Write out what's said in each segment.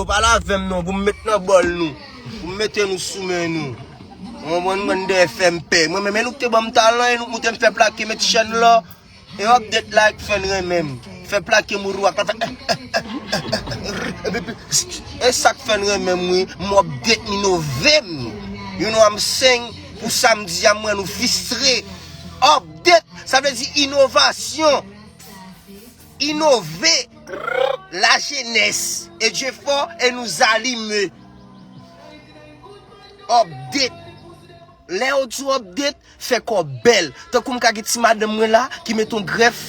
Yo pale avèm non pou m met nan bòl nou pou m mete nou sou men nou ou konprann bann dè fèm pè mwen menm e nou k te banm talan e nou k moute m fè plake met chèn lò e update la k fèn renmen m fè plake mouri wap la fè eh eh eh eh eh rr epi pi sssst e sak fèn renmen m wi m update m inove m you know am saying pou sa m di a m wè nou fistre update sa vle di inovasyon. Inove la jenes e je fò e nou zalime Update Lèw di update fè kò bèl Tankou m ka gen ti madanm mwen la ki met on grèf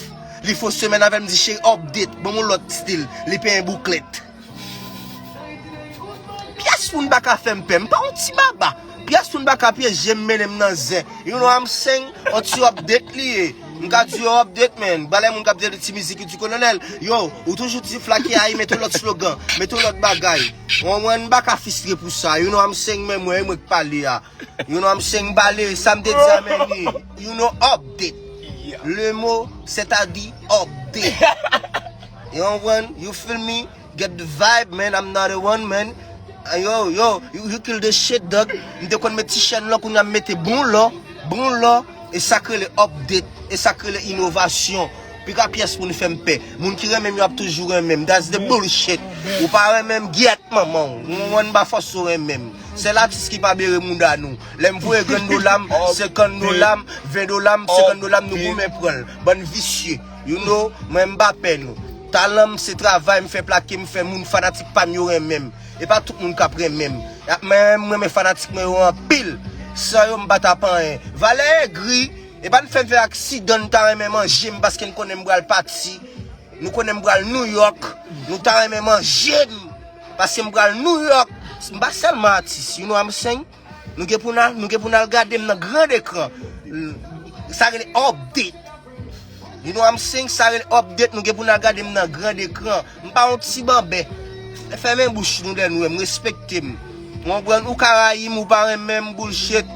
Li fon semèn avèm di cheri update Banm on lòt stil Li penyen bouklèt. Pyès moun pa ka fèm pè, m pa yon ti baba Pyès moun pa ka pye je m mennen m nan zen You know I'm saying, yon ti update li ye M ka di yo update man, balè moun k ap di ti mizik ki di kolonèl Yo, ou toujou di fla ki ayi mete yon lòt slogan, mete yon lòt bagay Ou anmwey, m pa ka fistre pou sa You know I'm saying, menm mwen, e mwen k pale a You know I'm saying, m pale, sa m te di a menm li You know update Le mot, sètadi, update. You konprann, you feel me, get the vibe man, I'm not a one man Yo, yo, you kill the shit dog M te konn met ti chèn lò kounya m mete bon lò, bon lò E sa k rele update, e sa k rele inovasyon Pi ka pyès moun fè m pè Moun ki renmen m yo ap toujou renmen m That's the bullshit Ou pa renmen m, gyèt manman w Ou konprann, m pa fòse w renmen m Sèl atis ki pa bere mouda nou Lè m voye grenn dola m, senkann dola m, ven dola m, senkann dola m Nou goumen pran l, bann visye. You know, mwen m pa pè nou. Talan m se travay m fè plake m fè moun fanatik pa m yo renmen m. E pa tout moun k ap renmen m. Men m renmen fanatik mwen yo anpil. San yo m pa t ap anyen. Valè egri, e pa n fè m fè aksidan n ta renmen manje m paske n konnen m pral pati. Nou konnen m pral Nouyòk, nou ta renmen manje m paske m pral Nouyòk. M pa sèlman atis, you know I'm saying? Nou gen pou n al, nou gen pou n al gade m nan grand ekran. Sa rele update. You know I'm saying? Sa rele update, nou gen pou n al gade m nan grand ekran. M pa yon ti banbè. Fèmen bouch nou lè nou wè m, respekte m. Ou konprann? Ou ka rayi m, ou pa renmen m, bullshit.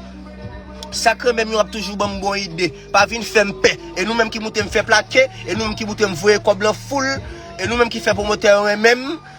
Sa k renmen m yo ap toujou ban m bon ide. Pa vin fè m pè. E nou menm ki moute m fè plake, e nou menm ki moute m voye kòb lan full, e nou menm ki fè pwomotè yo renmen m.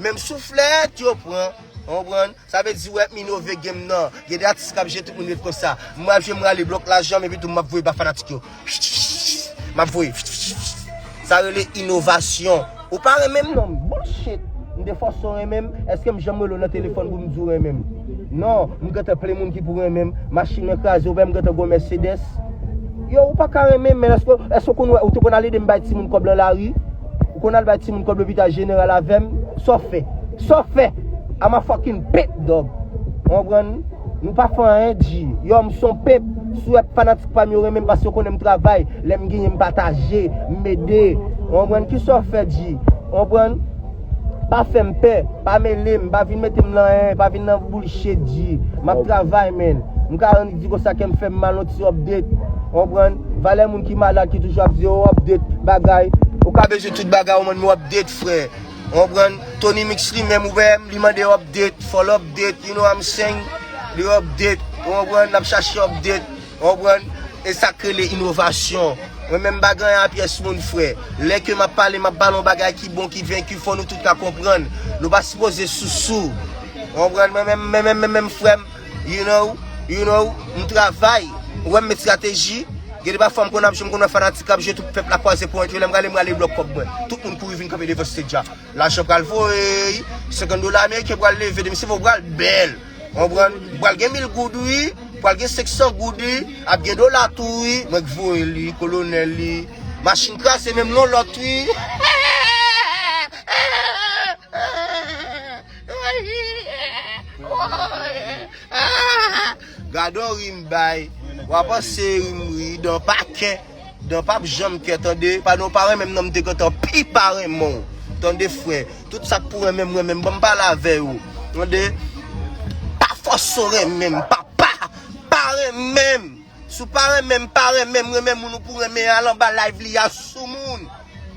Menm souflèt yo pran, ou konprann? Sa vle di ou ep inove game nan. Gen de atis kap jwe tout moun ret konsa. M pral jwe m rale blòk la janm epi tou map voye ba fanatik yo. Map voye. Sa rele inovasyon. Ou pa renmen m non. Bullshit. M te fòse w renmen m. Eske m janm rele w nan telefòn pou m di w renmen m? Non. M gentan plen moun ki pou renmen m. Machin nan kraze ou wè m gentan gwo Mercedes. Yow ou paka renmen m men eske ou konn wè ou te konn al ede m bay timoun kòb lan lari? Ou konn al bay timoun kob lopital general avem? Sa w fè? Sa w fè? I'm a fucking pimp dog. Ou konprann? Nou pa fè anyen di. Yo m son pimp. Swèp fanatik pam yo renmen m paske yo konnen m travay. Lè m genyen m pataje. M ede. Ou konprann? Kisa w fè di? Ou konprann? Pa fè m pè. Pa mele m. Pa vin mete m nan anyen. Pa vin nan bullshit di. M ap travay man. M ka. Di konsa kèm fèm mal yon ti update ou konprann valè moun ki malad ki toujou ap di oh update bagay ou ka bezwen tout bagay ou mande m update frè ou konprann Tonymix li menm ou wèm li mande update fòl update you know I'm saying li update ou konprann lap chache update ou konprann e sak rele inovasyon mwen menm m pa gen anyen a pyès moun frè lè ke map pale map pale yon bagay ki bon ki venki fò nou tout ka konprann nou pa sipoze sousou ou konprann mwen menm menm menm menm menm frèm. You know, you know, m travay, ou wè m met strateji, gen de pafwa m konn ap jwe, m konn wè fanatik kap jwe tout pèp la kwaze pwen yo, lè m rale m rale blòk kòb mwen, tout moun kouri vin kanpe devan stage a, lajan pral voyy, 50 dola ameriken pral leve, demen se fè w pral bèl, konprann, pral gen 1000 goud wi, pral gen 500 goud wi, ap gen dola tou wi, mwen k voye li, kolonèl li, machin kraze menm non lòt wi. Gadon rim bay Wa panse rim ri Dan pa kè Dan pap janm kè tande Pale ou pa renmenm nan m te gentan pi pa renmen w Tande frè Tout sak pou renmenm renmenm Banm pale avè yo Tande Pa fòse w renmenm Papa Pa renmenm Si w pa renmen m pa renmen m renmen moun ou pou renmen al anba live li a soumoun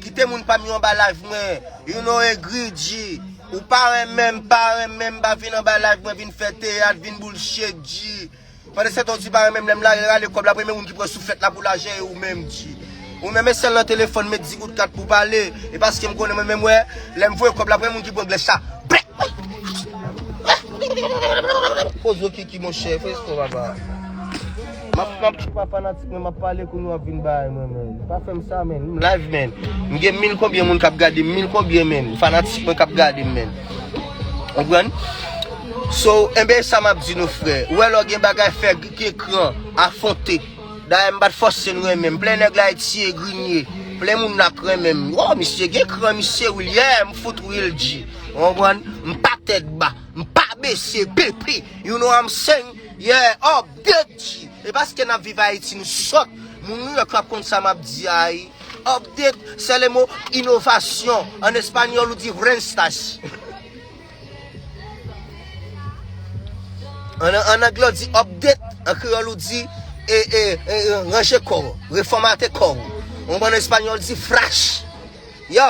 kite moun pam yo anba live mwen you know egri dji ou pa renmen m pa renmen m pa vin anba live mwen vin fè teyat vin boulshet dji pandesetan w di pa renmen m lè m la rale kòb la premye moun ki pran souflèt la pou lajan e ou menm dji. Ou menm e sèl nan telefòn met di goud kat pou pale e paskem konnen mwen menm wè lèm voye kòb la premye moun ki pran glèch sa bleh. Koz ou kiki monchè fè espò papa. Map map tou pa fanatik men map pale kounye wap vin bay mwen men pa fèm sa men m live men m gen mil konbyen moun kap gade m mil konbyen men fanatik mwen kap gade m men konprann so enben sa map di nou frè ou wè lè w gen bagay fè gen kran afronte Dayè m pat fòse n renmen m Plen nèg la Etie Grinie Plen moun la k renmen m Woo misye gen kran misye Wil yeah m fout real G Ou konprann M pa tèt ba M pa bese PP You know I'm saying Yeah Up dead G E paske n ap viv Ayiti nou sòt Moun New York yo ap konn sa m ap di a ii Up dead Sè le mo inovasyon An espanyòl ou di Vrènstas. An angle ou di update, an kreyòl ou di e, e, e, ranje kò ou, refòmate kò ou. Ou konprann an espanyòl di frash. Yo,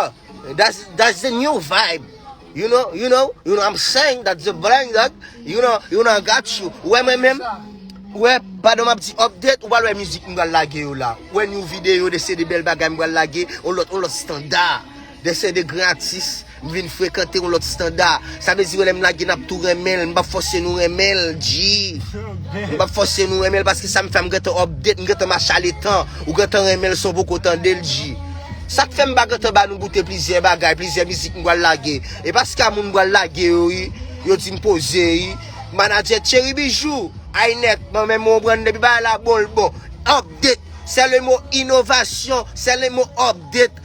that's, that's the new vibe. You know, you know, you know I'm saying that the brain that, you know, you know I got you. Ou wè mwen menm, ou wè, pandan map di update, ou pral wè mizik m pral lage yo la. Ou wè new video de CD Bèl Bagay m pral lage, on lòt, on lòt standard. Des se de gran atis, m vin frekante yon lòt standa. Sa vle di wè lè m lage n ap tou renmen l, m p ap fòse nou renmen l, Jee. M p ap fòse nou renmen l paske sa m fè a m gentan update, m gentan mache a letan. Ou gentan renmen l san w poko tande l, Jee. Sa k fè m pa gentan ba nou goute plizyè bagay, plizyè mizik m pral lage. E pa ska moun m pral lage yo wi, yo di m poze wi. Manadjè Tchery Bijou, Ainet, m anmèm mwen konprann depi bagay la bon l bon. Update, sè le mo inovasyon, sè le mo update.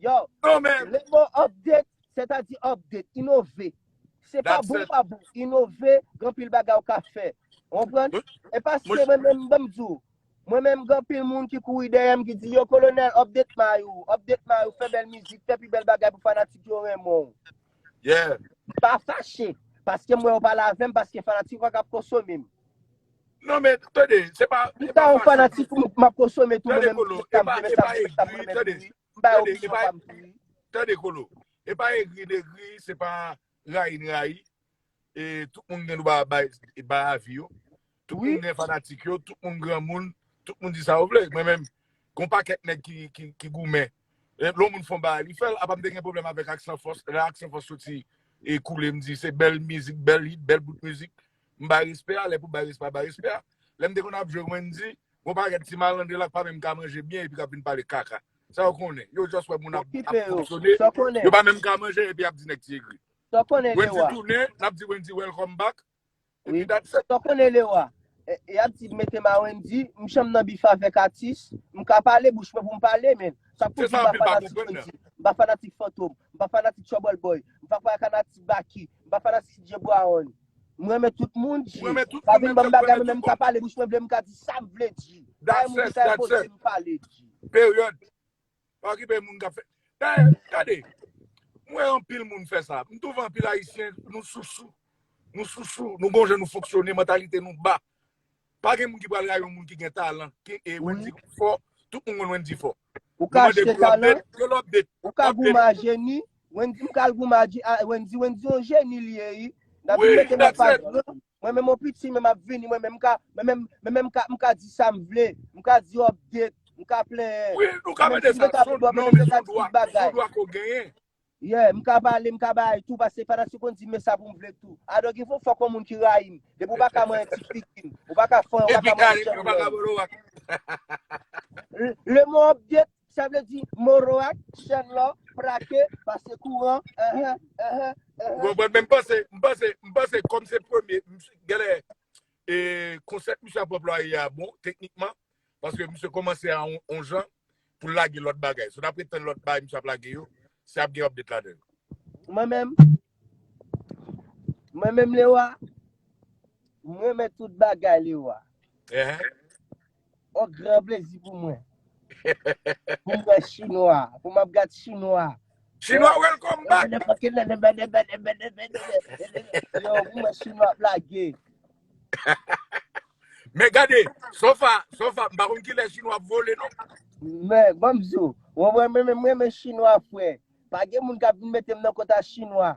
Yo, Non men, le mo update, sètadi update, inove. Se pa that's bon it. pa bon, inove, gen anpil bagay ou ka fè. Ou konprann? Mwen, E mwen, paske mwen menm banm di ou, mwen menm gen anpil moun ki kouri dèyè m ki di yo kolonèl update may ou, update may ou, fè bèl mizik, fè pi bèl bagay pou fanatik yo renmen ou. yeah. M pa fache, paske mwen yo pale avè m, paske fanatik yo ka ap konsome m. Non men, tande, se pa, se pa fasil. M ta yon fanatik ou, m ap konsome tou mwen menm. Tande kolo, e pa, e pa egri, tande, tande, e pa, tande kolo, e pa egri de egri, se pa rayi de rayi, e tout moun gen dwa bay, bay avi yo, tout moun gen fanatik yo, tout moun gran moun, tout moun di sa yo vle, mwen menm, kon pa kèk nèg ki, ki, ki goumen, e lon moun fon bay, li fèl, apa m te gen problem avèk ak san fòs, lè ak san fòs soti, e koule m di se bèl mizik, bèl hit, bèl bout mizik, M bay respè a, lè pou bay respè a, bay respè a. Lè m te konn ap jwe Wendy, gon pakèt ti malandren la k pa menm ka manje byen epi k ap vin pale kaka. Sa yo konnen? Yo just wè moun ap Okipe yo. fonksyone, Sa w konnen? yo pa menm ka manje epi y ap di nèg ti egri. Sa w konnen Wendy Lewa? tounen, n ap di Wendy welcome back, epi Wi. that's it. Sa w konnen Lewa? E, Y ap di mete m a Wendy, m janm nan bif avèk atis, m ka pale, bouch mwen pou m pale, men sa k pou Se di sa m pa anpil pa fanatik konprann nan. Wendy, m pa fanatik Fantom, m pa fanatik Trouble Boy, m pa fanatik Baky, m pa fanatik DJ Brown. M renmen tout moun G. Pa vin banm bagay mwen menm m ka pale bouch mwen vle m ka di sam vle G. Bagay moun ki ka enpoze m pale G. Period. Pa okipe moun kap fè. Dayè, gade, m wè anpil moun fè sa. M twouve anpil ayisyen nou sousou. Nou sousou, nou gon jan nou fonksyone, mantalite nou ba. Pa gen moun ki pral rayi yon moun ki gen talan e Wendy fò, tout moun konn Wendy fò. Ou ka achte talan, ou ka goumen a jeni, Wendy m pral goumen a Wendy, Wendy yon jeni li ye ui, nan vin mete mwen pa gran, mwen menm yon piti menm ap vini mwen menm m ka, mwen menm m ka di sa m vle, m ka di update, m ka plenyen, mwen menm si m te ka vin bò mwen menm m te ka di tout bagay. Yeah, m ka pale, m ka bay tou pase fanatik konn di m men sa pou m vle tou. I don't give a fuck konbyen moun ki rayi m. Depi w pa ka manyen ti figi m, ou pa ka fanyen, ou pa ka manyen janm lè m. Le mot update sa vle di moroak, chèn lò, prake, pase kouran, ehh ehh ehh ehh. Ou konprann men m panse, m panse, m panse kòm se premye, m si genlè e konsèp misye ap anplwaye a bon teknikman. Paske misye komanse a on jan pou l lage lòt bagay. Si w ta pretann lòt bagay misye ap lage yo, se ap gen update ladan l. Mwen menm, mwen menm Lewa, m renmen tout bagay Lewa. On gran plezi pou mwen pou m wè chinwa, pou m ap gad chinwa. Chinwa welcome back. Yo mwen wè chinwa ap lage. Men gade, sofa, sofa, mpa konn ki lè chinwa ap vole non. Men, banm di ou, mwen mwen mwen mwen mwen chinwa fwe. Pa gen moun kap vin metem nan kota chinwa.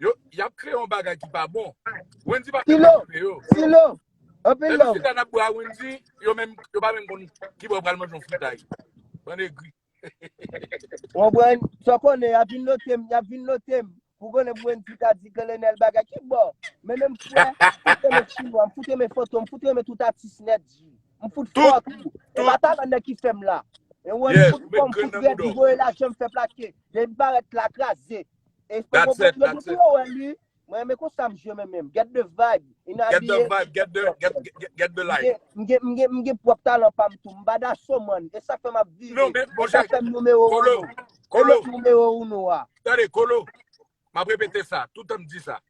Yo, yap kreye yon bagay ki pa bon. Wendy pa menm Silo, okipe yo. Silo, anpil Depi love. chita nap bwe a Wendy, yo menm, yo pa menm konn ki bò yo pral manje yon fritay. Bann egri. Ou konprann? Sa w konnen, yap vin note m, yap vin note m. Pou konnen pou Wendy ka di Kolonèl bagay. Ki bò? Men menm frè, m fout renmen Chinwa, m fout renmen Fantom, m fout renmen tout atis nèt ji. M fout fò Tout, tou. E pa tout. talan nèg ki fè m la. E ou wè m Yes, fout ou fò, met m grenn fout nan rèd, m boudòw. voye lajan, m fè plake. Lè m parèt la, kraze. Espo That's it, Boboclo that's it. Boclo wè li. Mwen renmen konsa msye menm menm. Get the vibe. In Get the abiye. vibe, get the, get, get, get the light. Mgen mgen mgen pwòp talan pam tou. Mpa daso man. E sak fèm ap vive. Non men, bon E sak Jacques, fèm numero Kolo, uno. E Kolo, met numero uno a. tande, Kolo, map repete sa, toutan m di sa.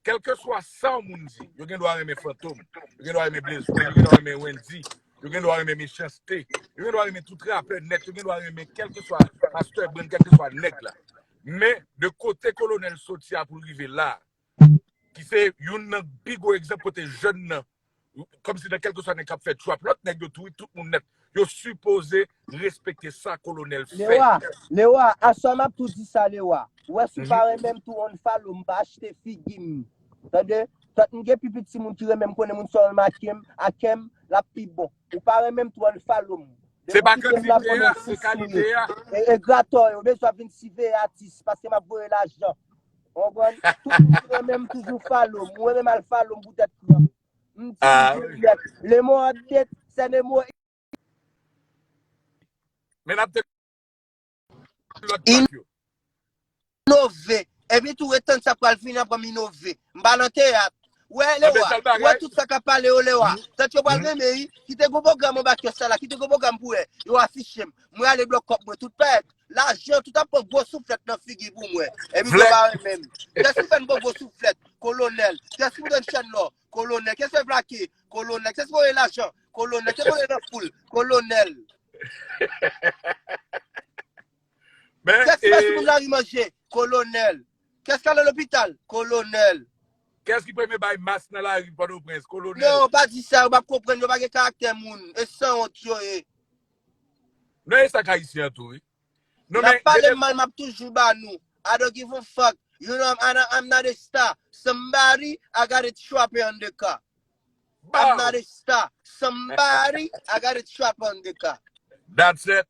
Kèlkeswa sa w moun di, yo gen dwa renmen Fantom, yo gen dwa renmen Blaze One, yo gen dwa renmen Wendyy, yo gen dwa renmen Mechans-T, yo gen dwa renmen tout rapè nèt, yo gen dwa renmen kèlkeswa Pastè Brand, kèlkeswa nèg la. Men, de kote Kolonèl soti a pou l rive la a, ki se youn nan pi gwo egzanp kote jèn nan Kòm si nan kèlkeswa nèg k ap fè trap lòt nèg yo tou wi, tout moun nèt, yo sipoze respekte sa kolonèl fè. Lewa, Lewa, aswè m ap tou di sa Lewa. Ou wè si w pa renmen m tou unfollow m, pa achte figi m. Tande, tant m gen pi piti moun ki renmen m konnen moun sa w remake m, ake m, l ap pi bon. Ou pa renmen m tou unfollow m. Se pa kantite a, se kalite a. Egratò yo bezwen ap vin siveye atis paske m ap voye lajan. Ou konprann? Tout moun ki renmen m toujou follow m. Mwen menm al follow m pou tèt kranm. M team Juliette. Le mot update, c'est le mot Men ap tande lòt track yo. inove. Epi tou ret tann sa pral vini aprè m inove. M pa nan teyat. Wè An Lewa, bèl wè bagay. tout sa kap pale yo Lewa, tant yo pral renmen wi, kite gwo pwogram anba kès sa la, kite gwo pwogram pou wè, yo affichem, mwen ale blòk kòb mwen tout pèt, lajan tout ap pran gwo souflèt nan figi pou mwen, epi yo Vlèt. pa renmenm, kès ki fèn pran gwo souflèt, kolonèl, kès ki prann chèn lò, kolonèl, kès fè plake, kolonèl, kès voye lajan, kolonèl, kès voye nan foul, kolonèl, Men, kès ki e, bay sou moun lari manje, kolonèl, Kès k ale lopital? Kolonèl. Kès ki premye bay mas nan lari Pòtoprens? Kolonèl. Non, pa di sa, yo pap konprann, yo pa gen karaktè moun, e sanwont yo ye. Non e sak ayisyen an tou wi. Non men. Nap pale mal map toujou ba nou. I don't give a fuck, you know I'm not a star, somebody I got a trapper on the car. Baww. I'm not a star, somebody I got a trapper on the car. That's it.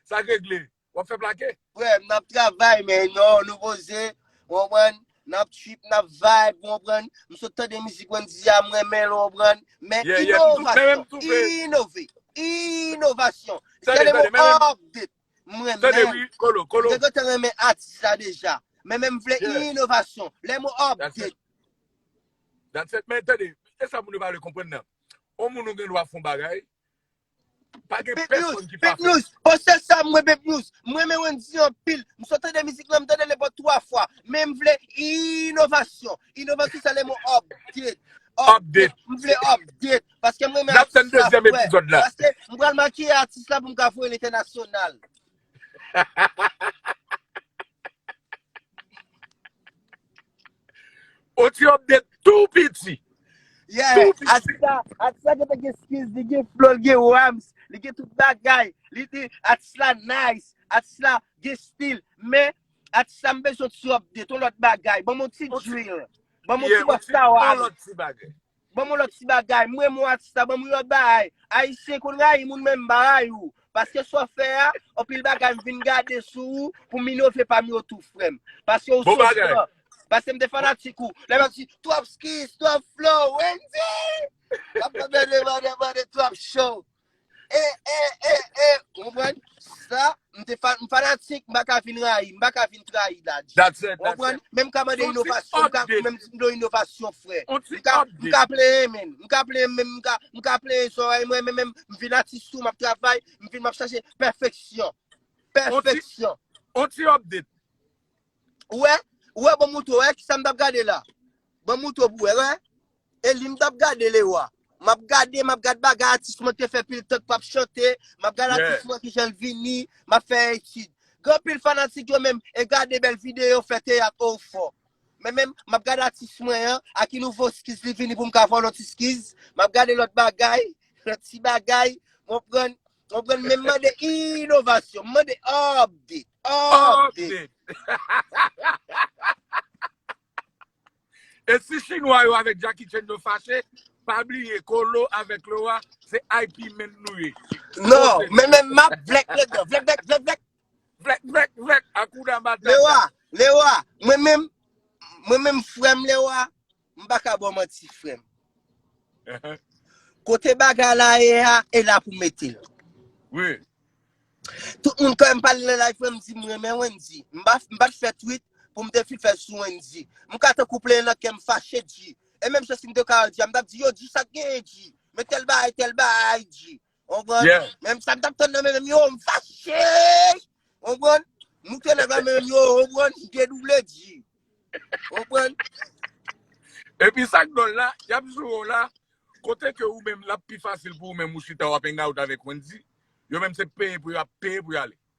Sak regle. Wap fè plake? Frèm nap travay men non nou poze ou konprann nap trip nap vibe ou konprann m sot tande mizik Wendyy a m renmen l ou konprann men inovasyon inove inovasyon se le mo update m renmen m te gentan renmen atis la deja men men m vle inovasyon le mo update That's it men tande e sa moun yo pa vle konprann nan on moun ou gen dwa fon bagay Pa gen pèsonn ki pa fèl. Oh sè Sam mwen Bebnews m renmen Wendyy anpil m so tande mizik lan m tande le bon 3 fwa men m vle inovasyon inovasyon sa le mo update update m vle update paske m renmen atis la fre paske m pral makiye atis la pou m ka voye l entènasyonal Oti update tou piti. Yeah, atisa, atisa gen te gen skills, li gen flow, li gen rhymes, li gen tout bagay, li di atis la nice, atis la gen stil, men atis la m bezwen ti update, yon lòt bagay, banm yon ti drill, banm yon ti bossa waz. Yon lòt ti bagay. Ban mwen lòt ti bagay, m renmen w atis la, ban mwen lòt baay, ayisyen konn rayi moun men m pa rayi w, paske sa w fè a, anpil bagay m vin gade sou ou pou m inove pa m yo tou frè m, paske ou Bon sou bagay. stan, paske m te fanatik ou, lè m ap di twòp skis, twòp flow, Wendyy! M ap mande mande mande twòp show. E, e, e, e, ou konprann? Sa, m te fa, m fanatik, m pa ka vin rayi, m pa ka vin trayi Dadj. That's it, Ou that's konprann? it. Men m ka mande Yon ti inovasyon, m ka, update. men m di m do inovasyon frè. On ti M ka, m update. ka plenyen men, m ka plenyen men, m ka, m ka plenyen zòrèy mwen men, men m vin atis tou, m ap travay, m vin m ap chache pèfeksyon. On ti, Pèfeksyon. on ti update. Ou wè? Ou wè banm moutrew wè kisam tap gade la banm moutrew pou wè wè Eli m tap gade Lewa map gade map gad bagay atis mwen te fè pil tan k pap chante map gad atis mwen kijanl vini map fè etid gen anpil fanatik yo menm e gade bèl video fè teyat oo ou fò men menm map gad atis mwen an a ki nouvo skiz li vini poum ka fè yon lòt iskiz map gade lòt bagay lòt ti bagay ou konprann Konprann men mande inovasyon, mande update, update. E si chinwa yo avèk Jackie Chan yo fache, pa bliye Colo avèk Laura se IP men nou ye. Non, men men map vlèk lèk dan, vlèk vlèk vlèk vlèk. Vlèk vlèk vlèk, Hakuna Matata. Laura, Laura, mwen menm, mwen menm frèm Laura, M pa ka baw manti frè m. Kote bagay la ye a, e la pou mete l. Wi. Tout moun kwen m pale nan live mwen m di m renmen Wendy. M pa t fè tweet pou m te fin fè l sou Wendy. M ka tankou plenyen nan kè m fache Dji. E menm jan si m te ka al Dji a m t ap di yo Dji sa k genyen Dji. Men tèl bagay tèl bagay Dji. Konprann? Yeah. Menm sa m tap tann nan men menm yo, m fache. Konprann? M moute nèg la menm yo, konprann? M dedouble di. Konprann? E pi sak dol la, yap joure w la, kote ke ou menm lap pi fasil pou ou menm ou chita wap hang out avèk Wendy, yo menm se peye pou yo ap peye pou yo ale.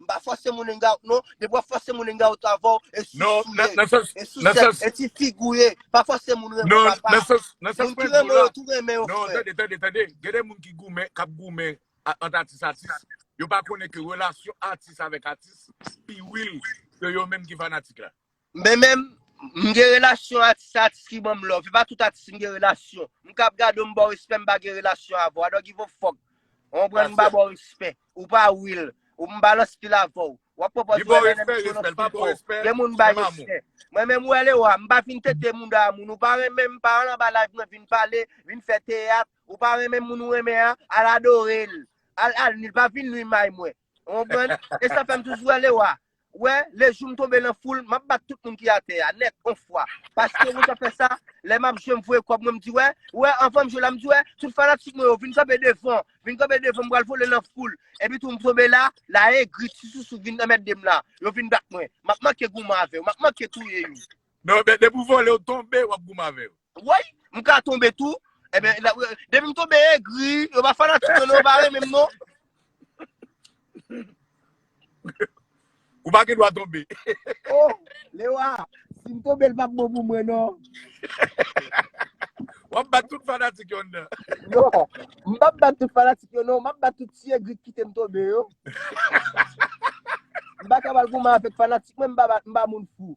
M pa fòse moun hangout non. Depi wap fòse moun hangout avèw e sousou ye, e sousèt, e ti fig ou ye. Pa fòse moun renmenw papa. Moun ki renmen yo tou renmen yo frè. Non, tande, tande, tande. Gen de moun ki goumen, kap goumen ant atis atis. Yo pa konnen ke relasyon atis avèk atis pi wil ke yo menm ki fanatik la. Men menm, m gen relasyon atis a atis ki banm love. E pa tout atis m gen relasyon. M kab gade w m ba w respè m pa gen relasyon avè w. I don't give a fuck. Ou konprann m pa ba w respè. Ou pa will. Ou m balans pil avè w. Ou ap konpòte w ennen menm si w nan fil pa w. Gen moun m bay respè. Mwen menm ou wè le ou a, m pa vin tete mouda a moun. Ou pa renmen m, pa al anba live mwen vin pale, vin fè teyat. Ou pa renmen moun ou renmen an, al adore l. Al al nwi l, pa vin nwi may mwen. Ou konprann? E sa fè m toujou ale wa. Wè, le jou m tonbe lan foul, m ap bat tout moun ki atè a, nèt, on fwa. Paske mwen sa fè sa, lè m ap jwe m voye kòb mwen, m di wè, wè, anvan m jwe la, m di wè, tout fanatik mwen yo, vin kanpe devan, vin kanpe devan, m pral vole lan foul. Epi tou m tonbe la, la egri, ti sousou vin anmède m la. Yo vin bat mwen. M ap manke goumen avè yo, m ap manke touye yo. Men, depi ou vole, ou tonbe, w ap goumen avè yo. Woy, m ka tonbe tou. Eben, depi m tonbe egri, yo pa fanatik mwen, yo pa renmen m non. Ou pa gen dwa tonbe. Oh, Lewa, si m tonbe l pa bon pou mwen non. Ou ap bat tout fanatik yo nan. Non, m pa bat tout fanatik yo non, m ap bat tout ti egri ki kite m tonbe yo. M pa ka pral goumen avèk fanatik mwen, m pa moun fou.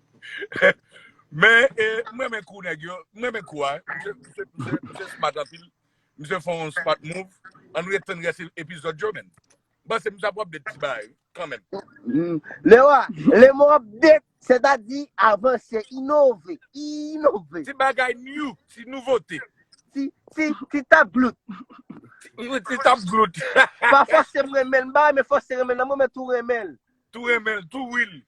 Men e m renmen kou nèg yo, m renmen kou a, misye misye misye misye smart anpil, misye fè yon smart move, ann ret tann rès epizòd yo menn. M panse misye ap wè update ti bagay kanmenm. Hmm. Lewa, le mo update, sètadi avanse, inove, inove. Ti bagay new, ti nouvote. Ti, ti, ti tap glout. Ti, ti tap glout. Pa fòse m renmen l, m pa renmen fòse renmen l nan, mwen menm tou renmen l. Tou renmen l, tou will.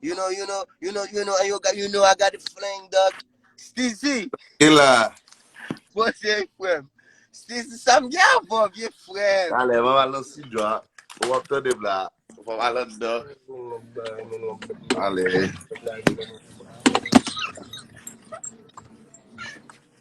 You know, you know, you know, you know, and you got, you know I got it fling dog. Stizi, E la. bon se frèm. Stizi, sa m gen avò vye frèm. Alè, mwen al nan studio a. Ou wap tande m la. Mwen al an dan. Alè.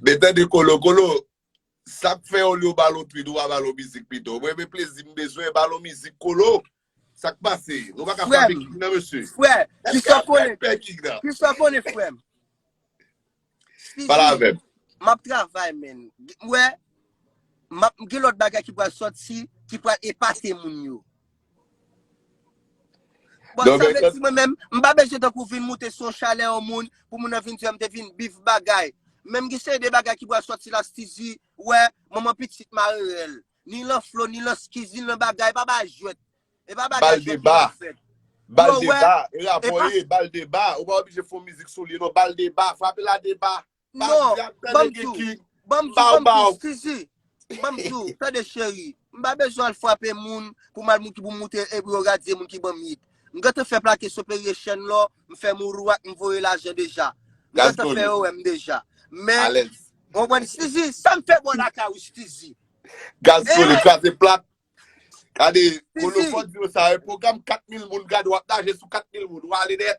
Men tande kolo, kolo, sak fè olye w balon tweet ou pa balon mizik pito? Mwen men plezi m bezwen, balon mizik kolo, sak pase? Nou pa ka frape king nan mesye? Frè, kisa w konnen tou? Kisa w konnen frè m? Pale avè m. M ap travay men, m wè, m gen lòt bagay ki pral sòti, ki pral epate moun yo. Bon sa vle di mwen menm, m pa bezwen tankou vin moute sou yon chalè yon moun pou moun nan vin di m te vin bif bagay. Menm gen seri de bagay ki pral sòti la Stizi wè, manman pitit mare rèl. Ni lan flo, ni lan skiz, ni lan bagay, e pa bagay jwèt. E pa bagay jwèt yo ap fè. Bal deba, bal deba, e rapò ye, bal deba, ou pa oblije fon mizik sou li non, bal deba, frape la deba. Non, banm diw, banm diw, banm diw, Suzy, banm diw, tande cheri, m pa bezwen al frape moun pou m al moute, pou m moute e pou yo radye moun ki banm hit. M gentan fè plake Soperye chèn lò, m fè mourou ak, m voye lajan deja. M gentan fè yo wè m deja. Men, ou konprann Suzy, sa m fè bò lakay ou Suzy? Gaz soli, kraze plat. Gade, kolofon di yo sa, yon pwogram 4000 moun, gade wap naje sou 4000 moun, ou ale nèt.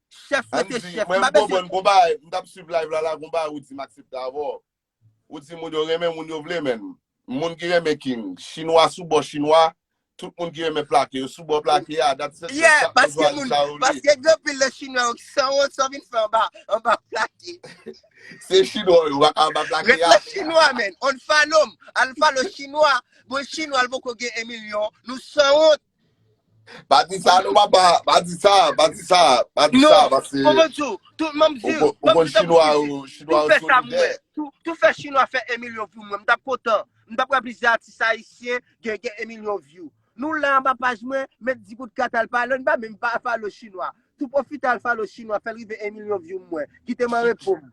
Chèf rete Andy, chèf. mwen M pa bese. konprann gon bagay, m tap swiv live la la gon bagay ou di m aksepte avè w. Ou di moun yo renmen moun yo vle men, moun ki renmen King, chinwa sou bò chinwa, tout moun ki renmen plake yo sou bò plake a, dat se Pyè, chak moun paske jwazi moun, sa yo vle. paske gen anpil nan chinwa yo ki sanwont, sa w vin fè anba, anba plake. Se chinwa yo, waka anba plake Ret a. la chinwa men, unfollow m, al follow chinwa, bon chinwa l poko gen 1 milyon, nou sanwont. Pa di sa non papa, pa di sa, pa di sa, pa di sa paske Non, koman diw, tou map diw, map diw tankou figi, tou fè sa pou mwen, tou fè chinwa fè 1 milyon pou mwen, m tap kontan, m tap pran plizyè atis ayisyen gen 1 milyon vyou. Nou la anba paj mwen, met di kout kat al pale, nou pa menm pa follow chinwa. Tou profite al follow chinwa fèl rive 1 milyon view m wè. Kitem an repo m.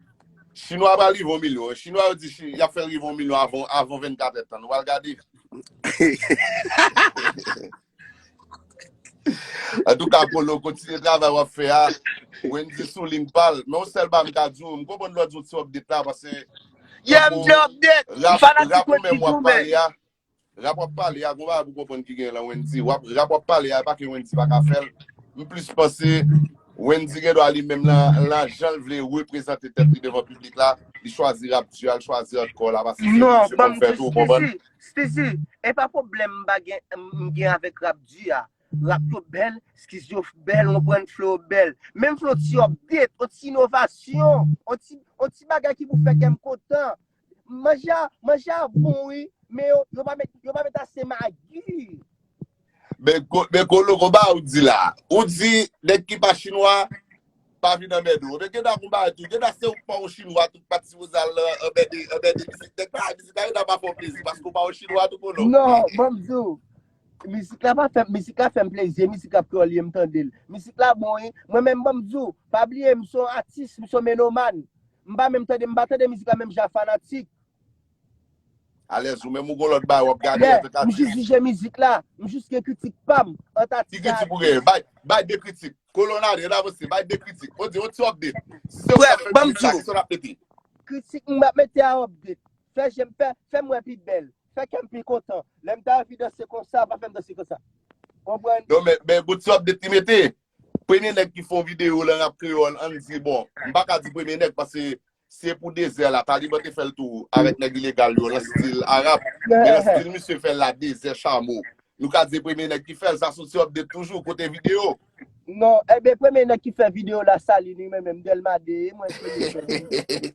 Chinwa pral rive 1 milyon wi. Chinwa yo di yap fèl rive 1 milyon avan 24 èd tan. Nou pral gade. Antouka Polo kontinye travay wap fè a. Wendy sou ling pal. Men yon sèl bagay m ka di w. M konprann lè w di w ti update la pase. Yeah m gen update. M fanatik Wendy tou men. Rap wap pale a gon bagay pou konprann ki gen lan Wendy wap rap wap pale a epa ke Wendy paka fèl m plis panse Wendy gen dwa li menm lan janl vle reprezante tèt li devan piblik la li chwazi rap di al chwazi hardcore la pase se misye konn fè tou ou konprann. Steezy epa pwoblèm m pa gen m gen avèk rap di a rap yo bèl skiz yo bèl ou konprann flo yo bèl menm vle yon ti update yon ti inovasyon yon ti bagay ki pou fè kèm kontan Manje a, manje a bon wi, men yo, yo pa met, yo pa met ase magi. Men, men kolo konba ou di la. Ou di nèg ki pa chinwa pa vin anmède ou. Men gen da konba tou. Gen da se ou pa ou chinwa tout pati si wozal la anmède, anmède vizit nèg la. Vizit la gen da pa fè ou plezi paske ou pa ou chinwa tou kolo. Non, banm di ou, Mizik la pa fèm, mizik la fèm plezi, mizik la kreyòl ye m tandel. Mizik la bon wi, mwen menm banm di w, pa bliye m se yon atis, m se yon menoman. M pa menm tande, m pa tande mizik la menm jan a fanatik. Alèz ou menm ou gon lòt bagay wap gade Yeah, antank m jis atis. jije mizik la, m jis gen kritik pa m ant Ki atis ak kritik ou genyen? atis. Bay, bay 2 kritik. Kolon Adrien avanse, bay 2 kritik. On di, on ti update. Si se ou k Frè tap m, fè banm mizik di la, w. kisa w tap mete? Kritik m ap mete a update. Fè je m, fè, fè m wè pi bèl. Fè kèm pi kontan. Lèm ta anvi danse konsa pa fèm danse konsa. Konprann? Non men men bon ti update li mete. Premye nèg ki fè yon video lan rap kreyòl ann di bon m pa ka di premye nèg paske se pou dezè la taliban te fèl tou avèk nèg ilegal yo lan stil arab men lan stil misye fèl la dezè chamo nou ka di se premye nèg ki fèl sa son ti update toujou kote video. Non, enben premye nèg ki fè video la Saline wi mwen menm Delma 2 e mwen premye fè li wi.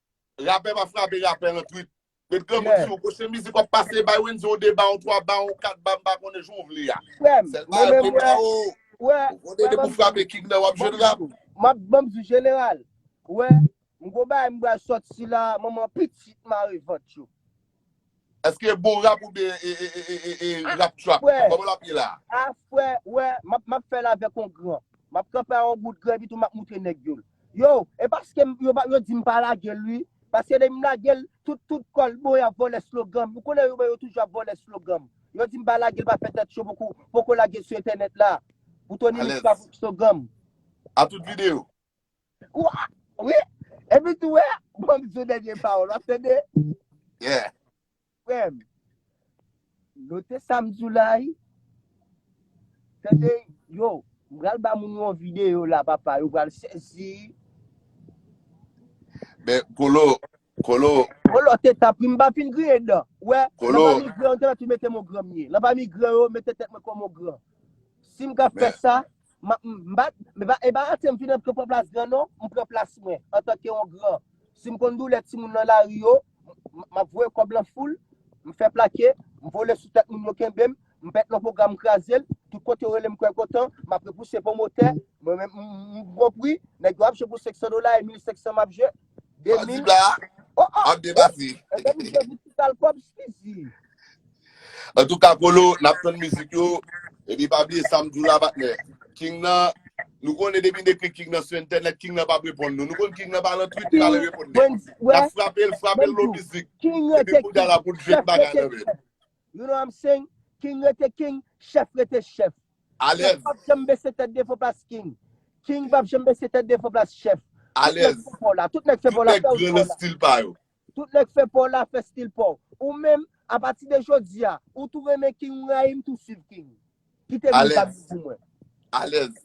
Rapè pa frape rapè nan twit. Met granmoun sou yon pwochen mizik wap pase bay Wendy yon 2 ba yon 3 ba yon 4 ba mpa konnen jan w vle ya. Frèm, Sèl mwen bagay menm mwen wè, ba ou, wè, ou konnen wè depi banm w di, frape king nan wap banm jwenn di rap. nou, map banm di jeneral, wè, m gon bagay m bal sòti la, manman pitit mare vant yo. Eske bon rap oubyen e rap trap? Frè, Koman lap ye la? a frè, wè, map map fèl avèk on gran. Map kanpe a on bout gran epi tou map moutre nèg yo l. Yo, e paske m yo pa yo di m pa lage l ui. Paske depi m lage l, tout tout kò l bon y ap vòlè slogan m. Ou konnen yo bon yo toujou ap vòlè slogan m. Yo di m pa lage l pa fè tèt cho poko poko lage l sou entènèt la. Pou Tony Mix Alèz. pa vòlè slogan m. A tout videyo. Wi, epi tou wè, bon msou dènye pawòl, wap tande? Yeah. Frèm, note sa msou la wi. Tande, yo, mpral ba moun yon video la papa, yo pral sezi. Men, Colo, Kolo! Kolo te tap ri m pa fin griyen dan. Ou wè, nan Kolo! pami gran yo, m te mèt mete mo gran m ye. Nan pami gran yo, m mete tèt mwen kòm on gran. Si m ka fè Men, sa, m ap, m pa, m pa, e pa rate m fin antre pran plas gran non, m pran plas mwen, antanke on gran. Si m konn doulè timoun nan lari yo, m, m ap voye kòb lan foul, m fè plake, m vole sou tèt moun yo kenbe m, m pèt lon pwogram m kraze l, tout kote yo rele m kwè kontan, m ap repouse pwomotè, mwen menm m, m, m bon pri, nèg yo ap jwe pou 500 dola e 1500 m ap jwe, Pas di 2000 bla, Oh ah ap deba fi. E de misye di ti kal kob squeezy. An tou ka Polo, nap tann mizik yo. Epi pa bliye sam diw la patnè. King nan, nou konnen depi n ekri King nan sou entènèt, King nan pap reponn nou. Nou konn King nan pa lan twit, li pa lan reponn nèg. Wendyy, wè, Nap frapel, frapel menm lon jou. mizik. King Epi rete kounye a King. la poul jwenn Chèf bagay rete nan menl. chèf. You know I'm saying? King rete king, chef rete chef. Chef pap janm bese tèt devan plas king. King pap janm bese tèt devan plas chef. Tout nèg fè paw la. Tout nèg fè paw la, fè ou paw la. Tout nèg fè paw la, fè stil paw. Ou menm, a pati de jodi a, ou tou renmen king ou rayi m tou swiv king. Kite bruh sa di pou mwen. Alèz.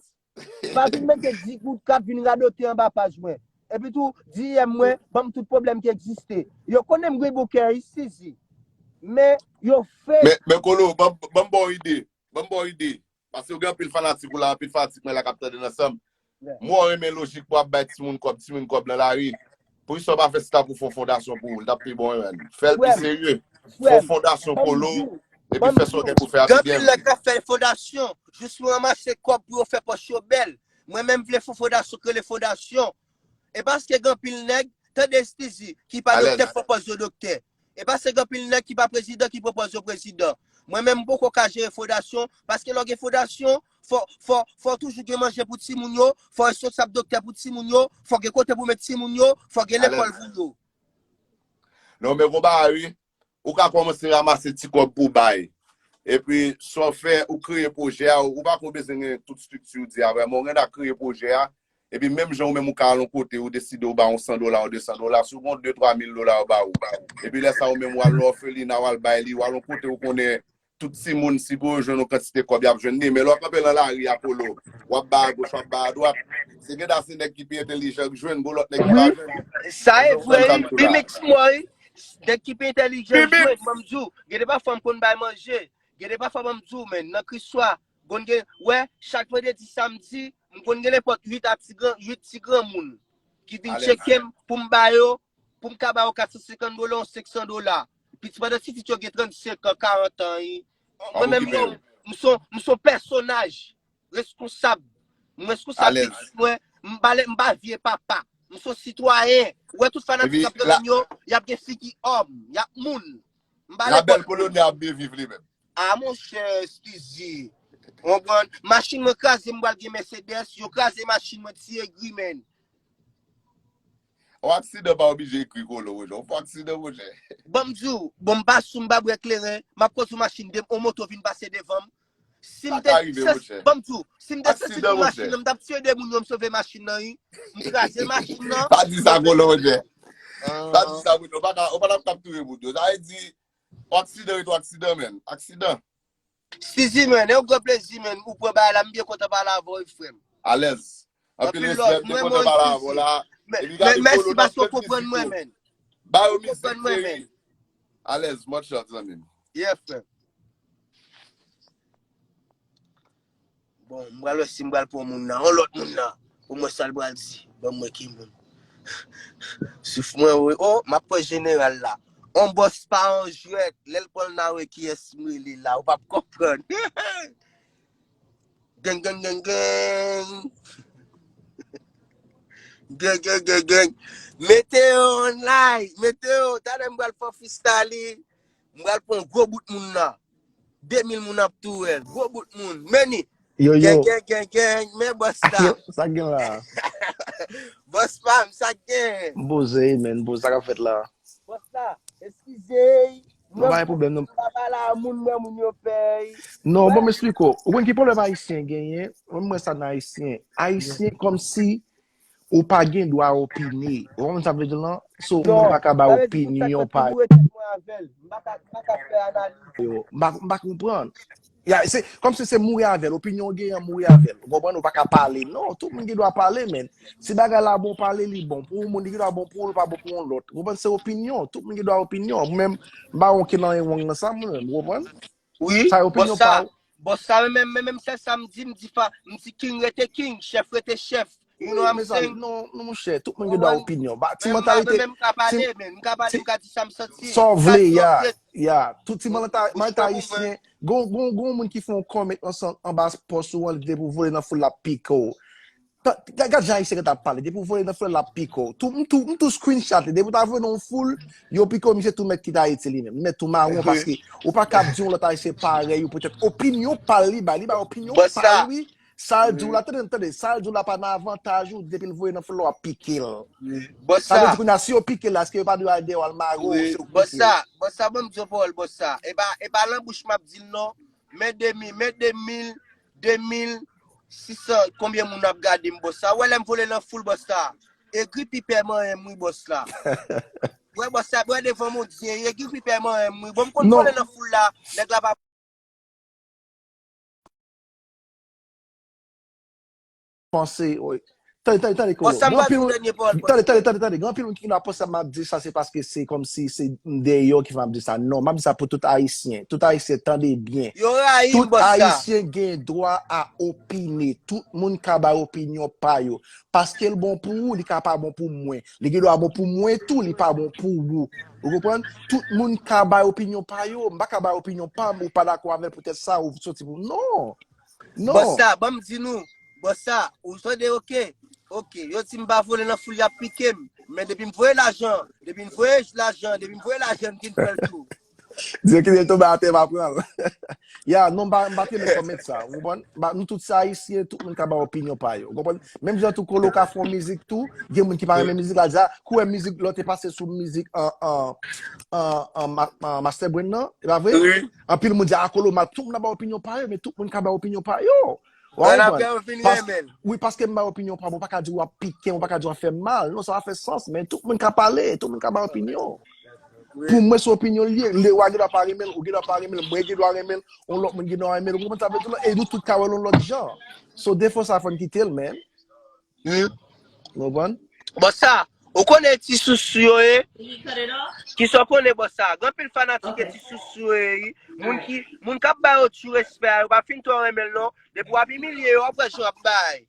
Pa vin mete digout kap vin radote anba paj mwen. Epi tou, DM mwen, banm tout pwoblèm ki egziste. Yo konnen m gen bouke a isizi. Men, yo fake. Men Kolo, banm banm ba w ide. Banm ba w ide. Paske ou gen anpil fanatik ou la, anpil fanatik mwen la kap tande nan sanm. Mwen wè w renmen lojik pou ap bay timoun kòb, timoun kòb nan lari. Poukisa ou pa fè sita pou fon fondasyon pou ou li tap pi bon menm. Fèl pi serye. Fon fondasyon pou lou epi fè sa ou gen pou fè a pi byen. Gen pil nèg kap fè fondasyon jis pou ranmase kòb pou yo fè pòch yo bèl. Mwen menm vle fon fondasyon k rele fondasyon. E paske gen pil nèg, tande Stizy, ki pa doktè fon pòz yo doktè. E pa se gen anpil nèg ki pa prezidan ki pwopòz yo prezidan. Mwen menm m poko ka jere fodasyon, paske lè w gen fodasyon, fò, fò, fò w toujou gen manje pou timoun yo, fò w responsab doktè pou timoun yo, fò w gen kote pou met timoun yo, fò w gen Alèz. lekòl pou yo. Non men gon bagay wi, ou ka kòmanse ramase ti kòb pou w bay. Epi sa w fè, ou kreye pwojè a, ou pa ko bezwen gen tout strikti ou di a vrèman, ou gen dwa kreye pwojè a, Epi menm jan ou menm ou ka al yon kote ou deside ou ba yon 100 dola, yon 200 dola, si w gen yon 2, 3 mil dola yo ba ou. Epi lè sa ou menm ou al nan òfelina ou al bay li, ou al yon kote ou konnen tout timoun si pou yo jwenn yon kantite kòb y ap jwenn li. Men lè w kanpe nan lari a Polo, w ap bay agoch, w ap bay adwat, se gen da se nèg ki pi entelijan k jwenn, gon lòt nèg ki pa jwenn. Sa e vre wi, Bmix moi, nèg ki pi entelijan jwenn. Ban m di w, gen de pafwa m konn bay manje, gen de pafwa ban m di w men, nan Kriswa, gon gen, wè, chak vandredi, samdi, M konn gen nenpòt 8 a ti gran, 8 ti granmoun ki vin tcheke m pou m ba yo, pou m ka ba yo 450 dola ou 500 dola. Piti pandan titit yo gen 35 an, 40 an. Mwen menm yo, m s on, m s on pèsonaj reskonsab. M reskonsab pitit mwen, m pa lè, m pa vye papa. M s on sitwayen. Ou wè tout fanatik k ap renmen m yo, y ap gen figi òm, y ap moun. La belle colonie ap byen viv li menm. A monchè skuizi ou konprann machin mwen kraze m pral gen mèsedès yo kraze machin mwen ti egri menn. On aksidan pa oblije egri kolo monchè on fo aksidan monchè. Banm diw bon m pa sou m pa bwè kleren map kondwi machin 2 m on moto vin pase devanm Sim Sa te ka rive, se Roger. banm tou. Sim te sesi Aksidan, pou machin Roger. nan m tap tiye 2 moun yo m sove machin nan ui. M kraze machin nan. Pa di sa Roland Roger. Pa di sa Roland. Ou pa ka, ou pa tap touye moun yo. Sa e di, on aksidan rete on aksidan men. Aksidan. Sizi men, e yon gran plezi men ou pran bagay la m byen kontan pale avèw frèm. Alèz. Anpil love mwen mwen sisi. Mèsi paske ou konprann mwen men. Ou konprann mwen men. Alèz mòt chòt zanmim. Yeah frè. Bon mbral wè si mbral pran moun nan. On lòt moun nan. Pou mwen sal bral di. Banm wè ki moun. Souf mwen wè. Oh map pran jeneral la. On bòs pa on jwèt. Lèl pranl na wè kiyès mwen li la. Ou pap konprann. Gang, gang, gang, gang. Gang, gang, gang, gang. Mete yo online. Mete yo. Tade m bral fò fistali. M bral pon gwo bout moun nan. 2000 moun ap tou el. Gwo bout moun. Meni. Yo, yo. Gang, gang, gang, gang. Men boss la. Yo, sa gen la. Boss pam, sa gen. M poze, men. M poze sa ka fèt la. Boss la, eskize. Mwen pa gen problem non. Mwen pa la moun nan moun yo pèy. Non, bon m'explique ou. Ou konn ki problem Ayisyen genyen? Mwen mwen sa nan Ayisyen. Ayisyen kom si ou pa gen dwa opine. Ou konn sa vle di lan? So, mwen pa ka ba opinyon pa. Mwen pa ka fè analiz. Mwen pa konprann. Yeah, se kòm si se mouri avè l, opinyon w genyen mouri avè l. Ou konprann, ou pa ka pale. Non, tout moun gen dwa pale, men. Si bagay la bon pale, li bon pou yon moun, li gen dwa bon pou ou, li pa bon pou yon lòt. Ou konprann, se opinyon. Tout moun gen dwa opinyon. Mwen menm, m pa wè okenn anyen wrong nan sa mwen menm, ou konprann? Wi, Sa e bon opinyon sa, pa w. bon sa, men menm, men menm sèl sa m di, m di fa, m di king rete king, chèf rete chèf. Moun yo a mezanmi, non monchè, tout moun gen dwa opinyon. Ba ti mantalite. Mwen mka pale men, mka pale, mka di sa m santi. Sa w vle ya, ya. Tout ti mantalite ayisyen, gon gon moun ki fon kòmèt anba pòs ou an li depi w vole nan foul la ap pike w. Gad jan ayisyen gentan ap pale, depi w vole nan foul la l ap pike w. Tou m tou, m tou screen chat li, depi w ta vole nan yon foul, yo pike w misye tou mèt kite Ayiti li menm. Mèt tou mawon paske ou pa kab di yon lòt ayisyen parèy ou poutèt opinyon pa l li bay. Li bay opinyon pa l wi. Sal diw la tande tande sal diw la pa nan avantaj ou depil voye nan flò ap pikel sa vle di kounya si yo pikel la eske yo pa dwe al deyò al mare w si yo pikel bon sa banm diw pawòl bon sa epa lan bouch map dil non men demi men demil demil sisan konbyen moun ap gadem bon sa wè lèm vole lan foul bon sa egri pipè manyenm wi bon sa wè bon sa wè devan moun diye egri pipè manyenm wi bon m konn vole lan foul la nèg la pa. panse oy tande tande tande Bon, kolo sa m gen pral anpil di moun dènye pawòl mwen. tande tande tande tande gen anpil moun ki vin ap panse sa map di sa se paske se kòmsi se m deyò ki fè map di sa non map di sa pou tout ayisyen tout ayisyen tande byen Yo rayi m tout bòs sa. ayisyen gen dwa a opine tout moun ka bay opinyon pa yo paske l bon pou ou li ka pa bon pou mwen Li gen dwa bon pou mwen tou, li pa bon pou wou. Ou konprann? Tout moun ka bay opinyon pa yo. M pa ka bay opinyon pa m, ou pa dakò avè l poutèt sa ou soti pou m. Non! Non! Bòs sa, ban m di nou, bòs sa, ou tande ok, ok, yo di m pa vole nan foul y ap pike m, men depi m voye lajan, depi n voye lajan, depi m voye lajan m vin fè l tou. Dieu kite l tonbe atè va pran l. Ya, non m pa m pa t renmen comment sa, ou konprann? Ba nou tout se ayisyen, tout moun ka bay opinyon pa yo, ou konprann? Menm jan tou Colo ka fè yon mizik tou, gen moun ki pa renmen mizik la, di a, kou wè mizik lò te pase sou mizik an an an an ma- an Master Brain nan, e pa vre? Anpil moun di a Colo mal, tout moun ap bay opinyon pa yo, men tout moun ka bay opinyon pa yo. Wap An apre konprann? yo fin Paske, renmen l. wi, paske m bay opinyon pa m, ou pa ka di wap piken, ou pa ka di wap fè m mal. Non, sa pa fè sans, men tout moun ka pale, tout moun ka bay opinyon. Wi. Pou mwen se opinyon l ye, Lewa gen dwa pa renmen l, ou gen dwa pa renmen l, mwen gen dwa renmen l, on lòt moun gen dwa renmen l, ou konprann sa m vle di w la? E nou tout ka wè l on lòt jan. So defo sa fò n kite l, man. Humm. Ou konprann? Bossa, ou konnen ti sousou yo ye? Kisa w konnen bossa? Gen anpil fanatik ke ti sousou yo ye ui. Moun ki, moun kap ba yo tu respè a yo pa fin twò renmen l non. Depi wap imilye yo wap wè jan yap bay.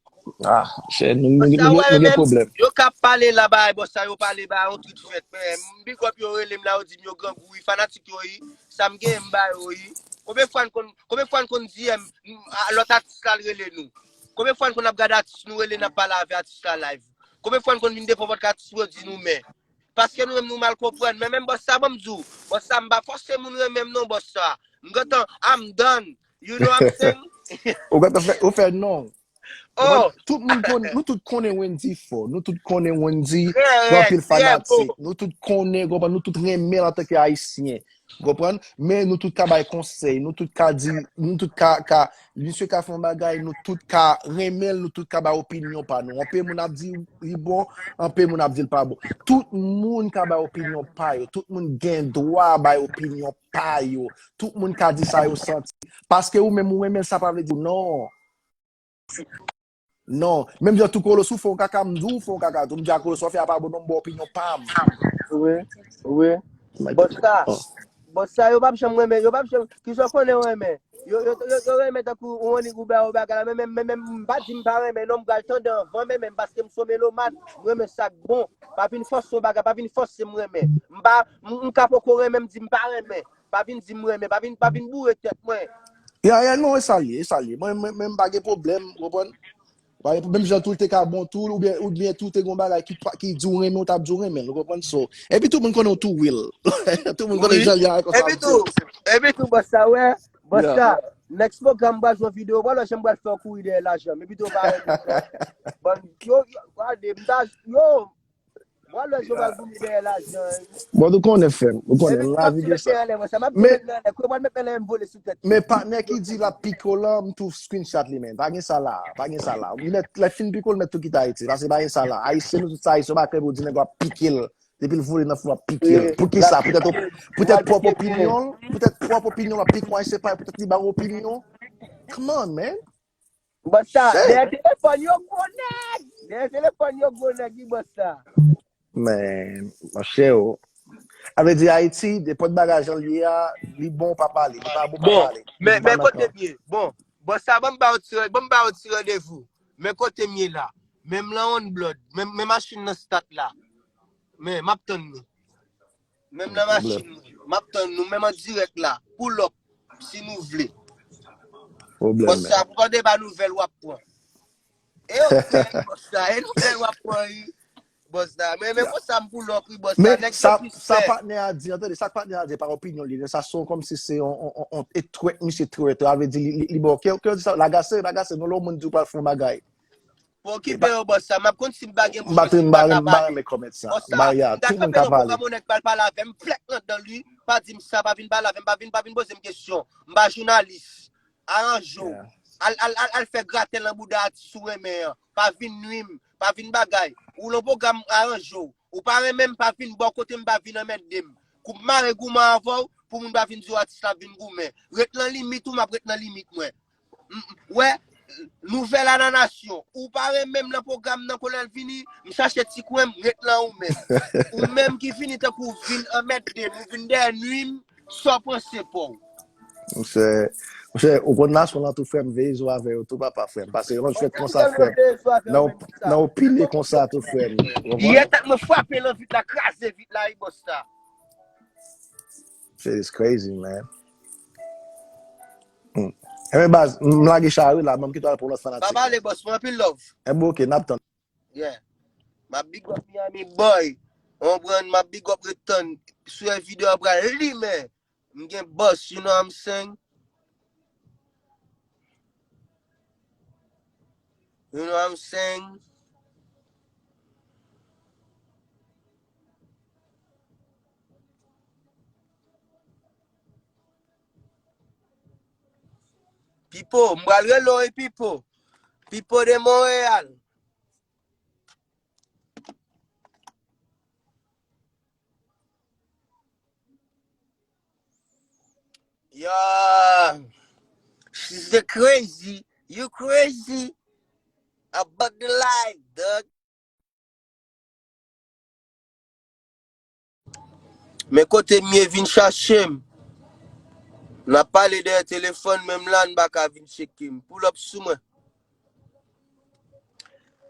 Ah, chè, nou Bossa wè yo gen menm, pwoblèm. yo ka pale la bay bossa yo pale ba yon tout fèt men m big up yo rele m la yo di m yo grangou ui, fanatik yo ui, sa m genyen m ba yo ui. Konbyen fwa n konn, konbyen fwa n konn DM lòt atis la al rele nou? Konbyen fwa n konn ap gade atis nou rele n ap pale avè atis la live? Konbyen fwa n konn vin devan pòt atis nou di nou mè? Paske nou menm nou mal konprann. Men menm bòs sa ban m di w, bòs sa m pa fòse moun renmen m non bòs sa. M gentan I'm done. You know I'm saying? Ou gentan fè, ou fè non. Ou konprann? Oh, Tout moun konnen, nou tout konnen Wendy fò. Nou tout konnen Wendy trè gen rèd, anpil trè bon. fanatik. Nou tout konnen, konprann, nou tout renmen l antanke Ayisyen. Ou konprann? Men nou tout ka bay konsèy, nou tout ka di, nou tout ka, ka, misye ka fè yon bagay, nou tout ka renmen l, nou tout ka bay opinyon pa nou. Anpe moun ap di li bon, anpe moun ap di l pa bon. Tout moun ka bay opinyon pa yo, tout moun gen dwa bay opinyon pa yo, tout moun ka di sa yo santi. Paske ou menm ou renmen l sa pa vle di non. Non, menm jan tou kolo sou fon kaka m di w fon kaka tou m di a kolo sa w fè a pa bon non m ba w opinyon pa m. Wi, wi. Bon sa, bon sa yo pap janm renmen, yo pap janm, kisa w konnen yo renmen? Yo, yo, yo renmen tankou ou annik ou ba yo bagay la men menm, men menm m pa di m pa renmen non m pral tande anvan men menm paske m son melomàn, m renmen sa k bon. Pa vin fòse yon bagay, pa vin fòse m renmen. M pa, m ka poko renmen m di m pa renmen. Pa vin di m renmen, pa vin, pa vin boure tèt mwen. Ya ya non e sa l ye, e sa l ye. Mwen menm m pa gen pwoblèm, ou konprann? M pa gen pwoblèm, menm jan tou l te ka bon tou l oubyen oubyen tou te gon bagay ki pa ki di w renmen w ta ap di w renmen l, ou konprann? So, epi tou moun konnen w tou Will. Tout moun konnen Wi. jan l ye a konsa Epi ap di tou, l. epi tou bòs sa wè, bòs Ya. sa, next program m pral jwenn videyo pa w la jan m pral fè w kouri dèyè lajan m. Epi tou w pa renmen m non. Bann yo, yo gade m ta, yo, Mwen lè joval pou mi dèyè la jan wi. Bon nou konnen fèm. Nou konnen Epi la map di mete anlè mwen sa map di mete anlè kote mwen mete anlè em vole sou tèt li. Men patnè ki di lap piko lan m tou screenshot li men pa gen sa la pa gen sa la ou mèt lè fin piko ou mèt tou kite ayiti paske pa gen sa la ayisyen nou tout sa ayisyen ou pa krève ou di nèg wap pikel depil vole nan fou wap pikel poukisa poutèt ou poutèt pwòp opinyon l poutèt pwòp opinyon l wap piko ayisyen pa poutèt li ba ou opinyon come on man Bòs sa, Shit! dèyè telefòn yo gwo nèg! Dèyè telefòn yo gwo nèg wi bòs sa. Men, mon chè o. A vle di Ayiti, depòt bagay jan l ye a, li bon w pa pale, li pa bon w pa Bon, pale. Depi men, w pa men nan kote kan. m ye. Bon, bòs sa banm ba w ti, banm ba w ti randevou. Men kote m ye la. Men m lan on blòd. Men, men machin nan stat la. Men, m ap tann nou. Menm nan machin mwen. Map tann nou menm an dirèk la. Pull up si nou vle. Bòs sa pou pa de ba nouvèl wap pran. E ou fèl bòs sa e nouvèl wap pran ui. Bòs sa men men konsa m pull up ui bòs sa nèg yo plis fè. Sa patnè a di an tande sa patnè a di pa opinyon li sa son kòmsi se yon e twèt misye twèt sa vle di li bon kèw kèw di sa lagase lagase non lè yon moun di ou pral fè yon bagay. Bon ki beyo boss sa map konn sim pa gen bouch mwen sim pa ka pale boss sa m ta kanpe nan program yon nèg pral pale avèm flèk nan dan li pa dim sa pa vin pale avèm pa vin pa vin pozem kesyon m pa jounalis aranje w al al al fè graten nan bouda atis ou renmen an pa vin nwi m pa vin bagay ou nan program aranje w ou pa renmen m pa vin bò kote m pa vin anmède m kou m mare gouman avè w pou moun pa vin di w atis la ap vin goumen ret nan limit ou map ret nan limit mwen Wè Nouvel a nan nasyon. Ou pa renmenm nan program nan kolèl fini m chache ti kwen m ret lan ou menm. Ou menm ki fini tankou w vin anmède m ou vin dèyè nwi m sa w panse pouw. Monchè Monchè ou konn nasyon lan tou frèm veye zo avè yo tou papa frèm pase lòt jwèt konsa frèm nan ou pile konsa tou frèm ou konprann. Yè tèt mwen frape lan vit la kraze vit la wi boss la. Shit is crazy man. Hmm. Eh ben baz, m lage chari la, m kito al pou lòt fanatik. Baba le boss, mwen anpil love. Eh bon, ok, nap tann. Yeah. Ma big up Miami boy. On brand ma big up return. Sou e video a bra li men. M gen boss, you know I'm saying? You know I'm saying? Pipo, m pral rele w wi Pipo. Pipo de Montréal. Yo, she's the crazy. You crazy. About the life, dog. Men kote mye vin chachem. Nap pale dèyè telefòn menm la n pa ka vin tcheke m. Pull up sou mwen.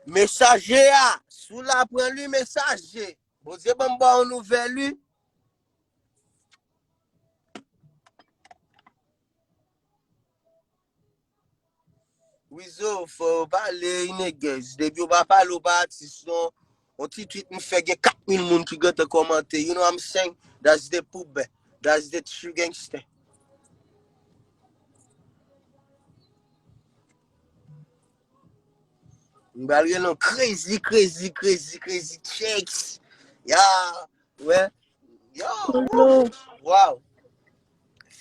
Mesaje a, si w la pran li mesaje. Bondye banm ba yon nouvèl wi. Wizo fò yo pale inegez depi yo pa pale yo pa atis non yon ti tweet m fè gen 4000 moun ki gentan kòmante you know what I'm saying that's the pub that's the true gangster m bal gen yon crazy crazy crazy crazy checks ya wè yo Kolo. wow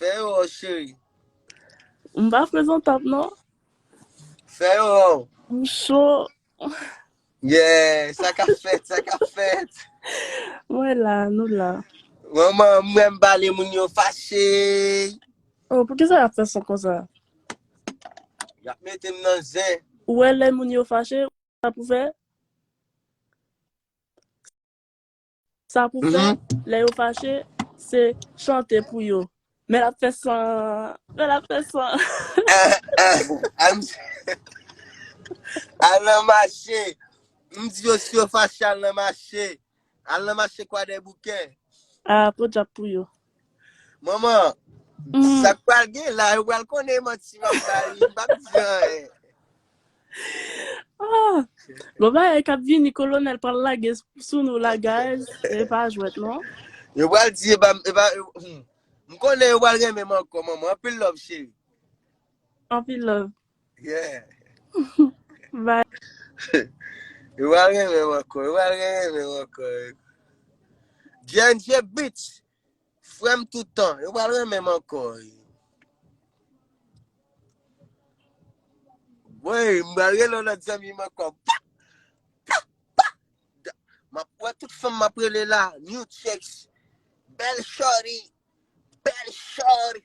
Fè yo ho cheri. M pa prezantab non. Fè yo ho. M cho. Yeah, sa ka fèt, sa ka fèt. Mwen la, nou la. Manman, m renm pale moun yo fache. Oh, pou kisa yap fè son konsa? Yap metem nan zen. Ou wè lè moun yo fache, sa pou fè? Sa pou fè, lè yo fache, se chante pou yo. Men l ap fè san, men l ap fè san. Al nan mache, m di yo si yo fache al nan mache. Al nan mache kwadèboukè. A, podyab pou yo. Manman, mm. sa pral gen la, yo pral konnen manti map bay, yo pap diyan. Ah, bon ba e kap vini kolonel pral lage sou nou la guys, e pa jwet non. Yo pral di e ba e ba hmm. m konnen yo pral renmen man ko manman, anpil love chéri. Anpil love. Bye. Yo pa renmen m ankò, yo pa renmen m ankò. J&J Beats, frè m tout tan, yo pa renmen m ankò. Woy, m ba rele yon lòt zanmi m ankò. Pa, pa, pa. Da- Map wè tout fèm map rele la, new checks. Bel shorty, bel shorty.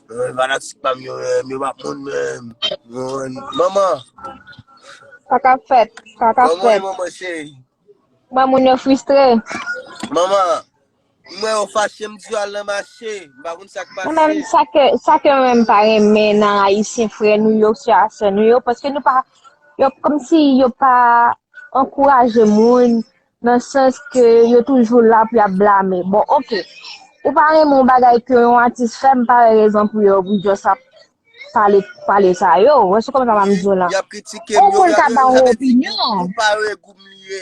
Mwen fanatik pa m yo menm, yo pa moun menm. Mwen, manman, Sa ka fèt, sa ka manman e fèt. manman cheri. Mwen moun yo fristre. Manman, mwen yo fache m di yo al nan mache. M pa konn sa k Mwen menm pase. sa ke sa ke mwen menm pa renmen nan ayisyen frè nou yo, sè a sè nou yo, paske nou pa yo kòm si yo pa ankouraje moun Nan sans ke yo toujou la pou yap blame. Bon ok, ou pa renmen yon bagay ke yon atis fè, m pa wè rezon pou yo pou just ap pale pale sa yo. Ou wè se kòman sa map di w lan. Yap kritike m yo. Ou moun ka ba yon opinyon. Ou pa wè gou m li ye.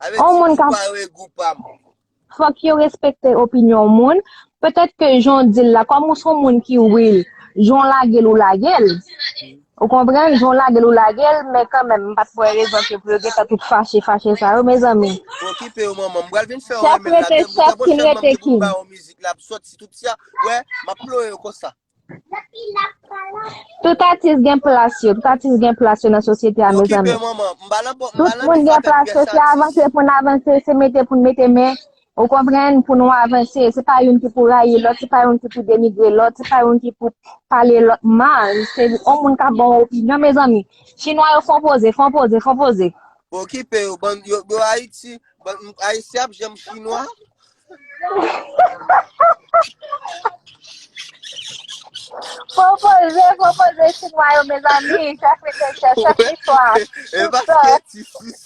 Avè di ou pa wè gou pa m. Fòk yo respekte opinyon moun. Petèt ke jan w di l la, kòm ou son moun ki real, jan w lage l ou lage l. Ou konprann, jan w lage l ou lage l, men kanmenm m pat wè rezon ke pou yo gentan tout fache fache sa yo mezanmi. Okipe yo manman, m pral vin fè w renmen l la menm konsa bon chèlman m te konn ba w mizik la ap soti tout sa, wè m ap ploye yo konsa. Tout atis gen plas yo, tout atis gen plas yo nan sosyete a mezanmi. Tout moun gen plas yo, se avanse pou n avanse, se mete pou n mete men, Ou konprann, pou nou avanse. Se pa youn ki pou rayi lòt, se pa youn ki pou denigre lòt, se pa youn ki pou pale lòt mal. Se yon moun k ap ba w opinyon, mezanmi. Chinwa yo fon poze, fon poze, fon poze. Okipe yo, bann, yo Ayiti, bann, Ayisyen ap janm chinwa? Fon poze, fon poze chinwa yo, mezanmi. Chèf literatè, chèf listwa, tout sa.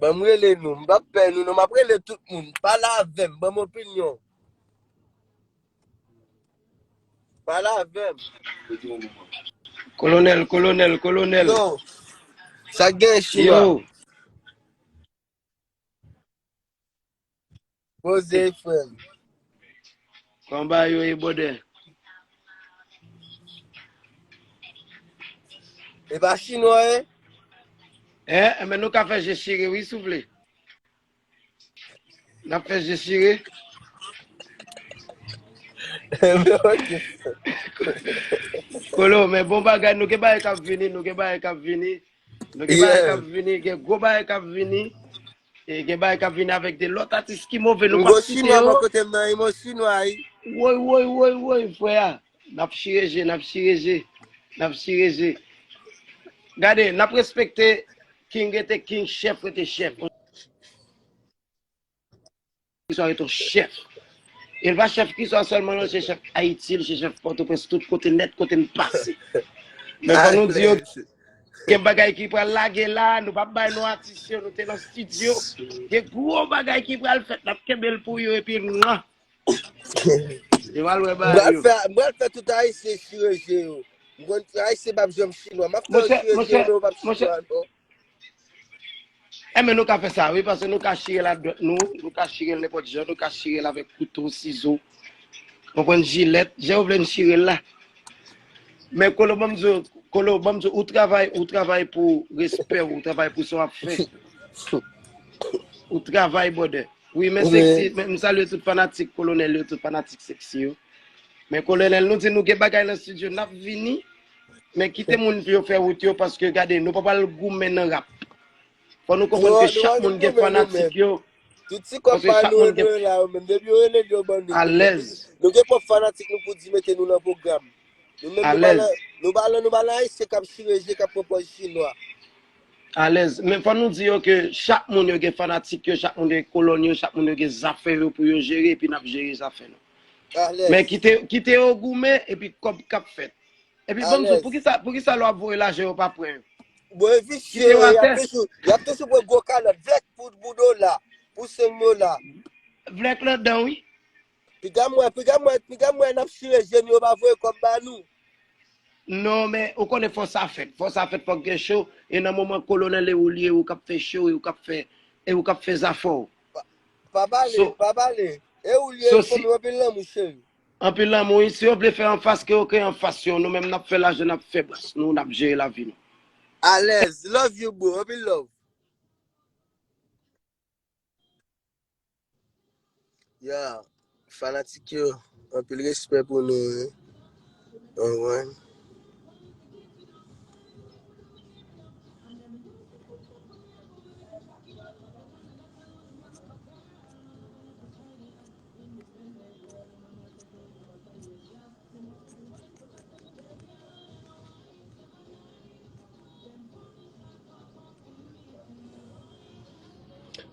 Ban m rele nou, m pap pè nou non, m ap rele tout moun, pale avè m, ban m opinyon w. Pale avè m. Kolonèl, kolonèl, kolonèl. Yo, sa k gen chinois? Yo. Poze frem. Kwan ba yo e bode. E pa chinwa e? E, e men nou ka fè je chire wi souple. Nap fè je chire. Kolo, men bon bagay nou gen bagay kap vini, nou gen bagay kap vini. Nou gen bagay kap vini, gen gwo bagay kap vini. E gen bagay kap vini avèk de lòt atis ki move nou pap site yo. Woy, woy, woy, woy, frè a. Nap chire je, nap chire je, nap chire je. Gade, nap respekte king rete king, chèf rete chèf. Kiswa ret on chèf. E l pa chèf Kiswa sèlman non, l se chèf Ayiti, l se chèf Pòtoprens, tout kote nèt kote n pase. Men fò nou di yo gen bagay ki pral lage la, nou pa bay non atis yo, nou te nan stidyo. Gen gwo bagay ki pral fèt, n ap kenbe l pou yo epi mwa. Yo pral wè bagay yo. M pral fè tout Ayisyen chire je yo. M konn Ayisyen pa p janm chinwa. M ap fè yo chire je yo men yo pa p chinwa non. Enben nou ka fè sa wi, paske nou ka chire l ak dwèt nou, nou ka chire l nenpòt jan, nou ka chire l avèk kouto, sizo, konprann, jilèt, jan ou vle n chire l la. Men Kolo banm di w, Kolo banm di w, ou travay, ou travay pou respè w, ou travay pou sa w ap fè. Ou travay brother. Wi men seksi, men m salye tout fanatik Kolonèl yo, tout fanatik seksi yo. Men Kolonèl nou di nou gen bagay nan studio, n ap vini. Men kite moun pou yo fè wout yo paske gade nou pa pral goumen nan rap. Fò nou konprann ke chak moun gen fanatik yo. Tout ti kòb pa nou yo dwe la yo menm. Depi yo rele nou yo ban nou. Alèz. Nou gen pwòp fanatik nou pou di mete nou nan pwogram. Nou menm nou pa nan, nou pa nan, nou pa nan ayisyen k ap chire je, k ap pran pòz chinwa. Alèz. Men fò nou di yo ke chak moun yo gen fanatik yo, chak moun yo gen kolòn yo, chak moun yo gen zafè yo pou yo jere epi n ap jere zafè nou. Men kite yo goumen epi kòb kap fèt. Epi banm sou, poukisa lò ap voye lajan yo pa pran yo? Bon e visye, yap toujou pran gwo kalòt, vlèk pou dbou do la, pou seng do la. Vlèk la dan wi. Piga mwen, piga mwen, piga mwen nap chire jeni yo pa voye kòb ba nou. Non men, ou konnen fò sa fèt, fò sa fèt fòk gen show, e nan moman kolonèl e ou liye ou kap fè show, e ou kap fè, e ou kap fè zafè ou. Pa pale, So, pa pale. E ou liye, so si, fòm yo anpil lanmou cheri. anpil lanmou wi. Si yo vle fè anfas ke yo ke anfas yo. Nou menm nap fè lajan nap fè bras nou, nap jere lavi nou. Alèz, love you boo, anpil love. Yeah. Fanatik yo anpil respè pou nou wi konprann.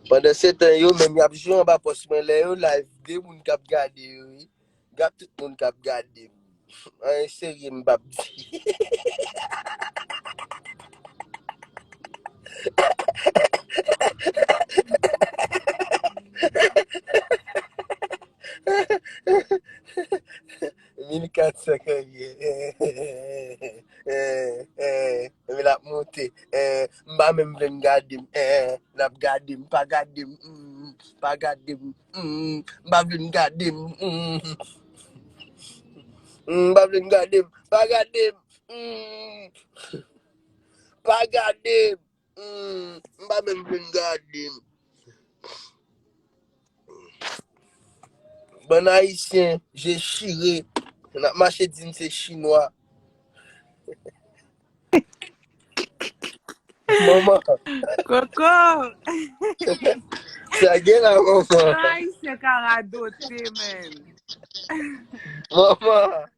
Pandan setan yo menm yap jwe anba pòs mwen lè yo live gen moun kap gade yo wi gad tout moun kap gadem anyen serye m pap di 1400 kòbye Epi l ap monte M pa menm vle m gade m L ap gade m Pa gade m Pa gade m M pa vle m gade m M pa vle m gade m Pa gade m Pa gade m Humm m pa menm fin gade. Bann ayisyen je chire nap mache dim se chinwa. Manman. Koko. Sa gen la manman. Jan ayisyen ka radote menn. Manman.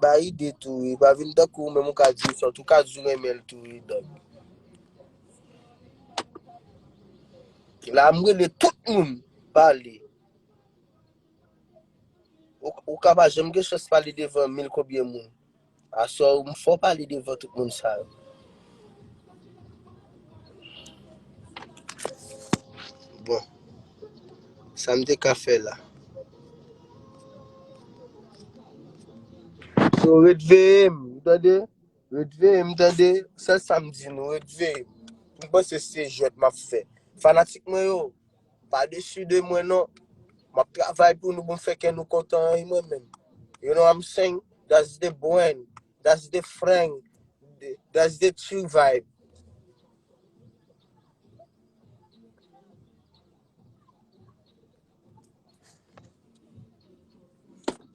Bay ide tou wi, pa vin tankou ou menm ou ka di sòt, ou ka di ou renmen l tou wi dòk. La m rele tout moun pale. Ou ka pa janm gen chans pale devan mil konbyen moun. Aswè ou m fò pale devan tout moun sa yo. Bon, sa m te ka fè la. So ret veye m, ou tande? Ret veye m tande, sèl sa m di nou, ret veye m. M panse se jwèt m ap fè. Fanatik mwen yo, Pa desu de mwen non. Map travay pou nou pou m fè kè nou kontan an mwen menm. You know I'm saying? That's the brand. That's the frang. That's the true vibe.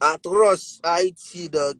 Atroce Haiti dog.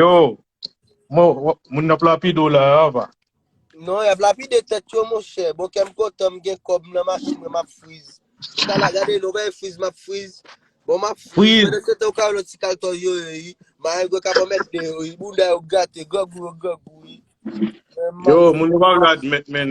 Yo, mwen wè moun nan ap lapide w la Ava. Non, y ap lapide tèt yo monchè. Bon kè m kontan m gen kòb m nan machin mwen m ap friz. Ti kala gade nou bay friz m ap friz. Bon m ap friz Friz. pandan se tan ou ka wè lòt ti kaltò yo yo wi. Marenn gwe kap anmède yo wi. Bounda yo gate, grangou yo grangou wi. Men m ap Yo, moun yo pa vle admèt men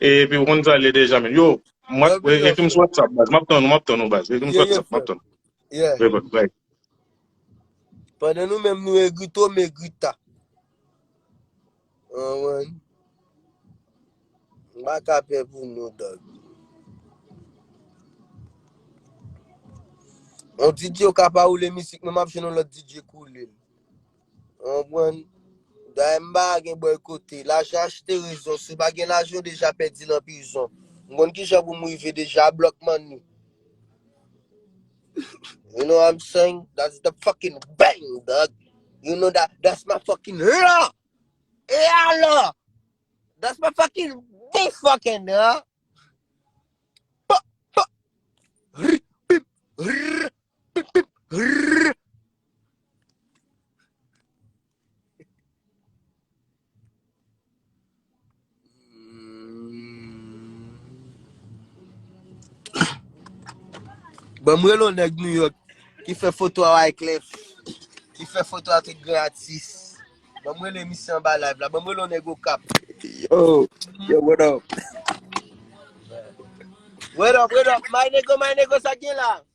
Epi ou konn sa le deja men. Yo, mwen Love you, ekri m Joshua. sou WhatsApp baz. Map tann ou, map tann ou baz. Ekri m sou Yeah, yeah, WhatsApp, map frèm. tann ou. Yeah. Bye bye. bye. Pandan nou menm nou egri to, m egri ta. An wan. M pa ka pè pou nou, dog. On DJ yo ka pa oule misik, men m ap jwenn on lòt DJ koule. Ou konprann? Daye m pa gen bòykote. Lajan achte rezon. Si w pa gen lajan, ou deja pèdi nan prizon. M konn ki jan pou m rive deja a block money. You know what I'm saying? That's the fucking bang, dog. You know that? That's my fucking la! E alò? That's my fucking big fucking la! Pa, pa, rr, pip, rr, Pip pip rrrr. Banm rele yon nèg New York ki fè foto a Wyclef, ki fè foto a tout gran atis. Banm rele misye anba live la. Banm rele yon nèg Okap. Yo, yo what up? What up, what up? My nego, my nego, sa k gen la?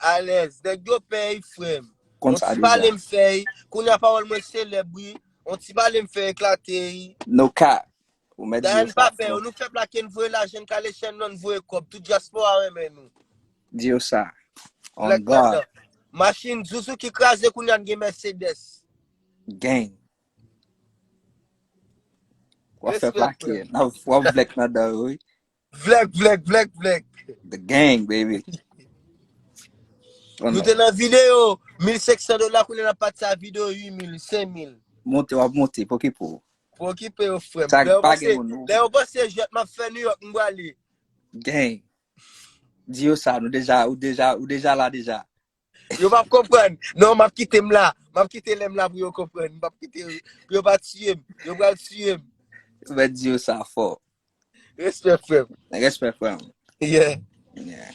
Alèz nèg yo pèy frèm. Konn On sa ti deja. pale m fèy. Kounye a pawòl mwen selèb wi. On ti pale m fè eklate y. No cap. Ou mèt di yo Dayane sa pa pè yo. bro. Nou fè plake n voye lajan n kale chèn non n voye kòb. Tout dyaspora renmen nou. Di yo sa. On Black God. Panda. Machin zuzu ki kraze kounye a n gen Mercedes. Gang. Wap fè Respect plake. frèm. Nan wap vlek nan dan yo wi. Vlèk, vlèk, vlèk, vlèk. The gang baby. Nou te nan video 1500 dola kounye nan pati sa video 8000, 5000. Monte wap monte poki pou. Poki pou yo frem. Sa pa gen moun nou. Lè yo panse jet map fè New York mwa li. Gang. Di yo sa nou deja ou deja ou deja la deja. Yo pap konprann. Non, map kite m la. Map kite lè m la pou yo konprann. Map kite yo. Pou yo pa tiye m. Yo pral tiye m. Ou mèt di yo sa fò. Respè frè m. Respè frè m. Yeah. Yeah.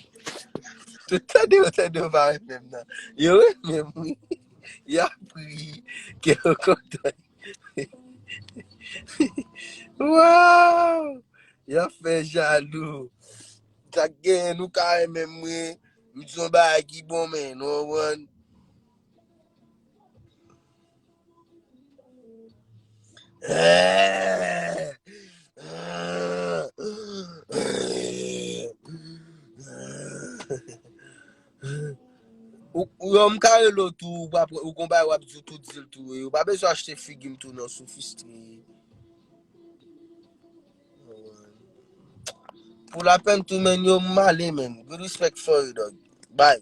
Tout tande yo tande yo pa renmen m nan. Yo renmen m wi. Ya pri. Ke yo kontan. Waww. Yap fè jalou. Sak gen nou ka renmen m wi. M di yon bagay ki bon men nou konprann. Yo m ka rele w tou ou gon bagay wap di w tou dil tou. Ou pa bezwen achte figi m tou non sou fistri. Pou la pen tou men yo male menn. Good respect for you dog. Bye.